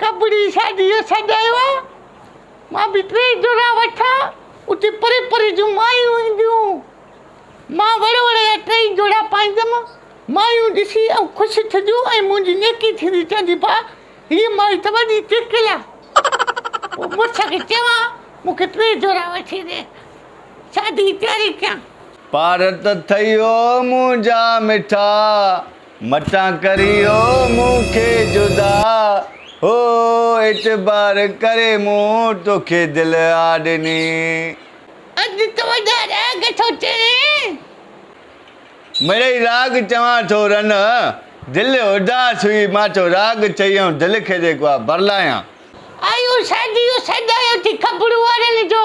ڪٻڙي شاديء جو سجايو آ، مان به ٽي جوڙا وٺان، اتي پري پري جون مايون اينديون. مان وڙ وڙ جا ٽيئي جوڙا پائيندم، مايون ڏسي ائون خوش ٿينديون ۽ منهنجي نيڪي ٿيندي چوندي ڀاء هيء مائي ته وڏي ٽيڪل آ. پوء مڙس کي چوان مون کي ٽي جوڙا وٺي ڏي، شاديء جي تياري ڪيان. پارت ٿئي او منهنجا مٺا، متان ڪريو مون کي جدا هو اعتبار ڪري مون توکي دل آ ڏني. اڄ تنهنجا راڳ ٿو چوين. مڙئي راڳ چوان ٿو رنه دل اداس هئي مان ٿو راڳ چيئون دل کي جيڪو آ برلايان. آيون ساجيون سجايون ٿي خبرون اڙل جو.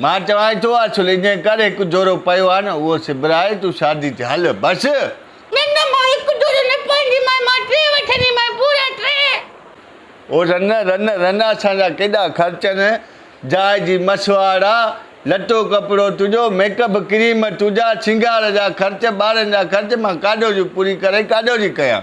مان چوانء ٿو اصل جنهن ڪر هڪ جورو پيو آهي نه اهو سبرائي تون شادي تي هل بس. نه نه مان هڪ جورو نه پائينديمانء مان ٽي وٺنديمانء پورا ٽي. او رن رن رن اسان جا ڪيڏا خرچن جاء جي مسواڙ آ لٽو ڪپڙو تنهنجو ميڪپ ڪريم تنهنجا سينگار جا خرچ ٻارن جا خرچ مان ڪاڏو جون پوري ڪري ڪاڏو جي ڪيان.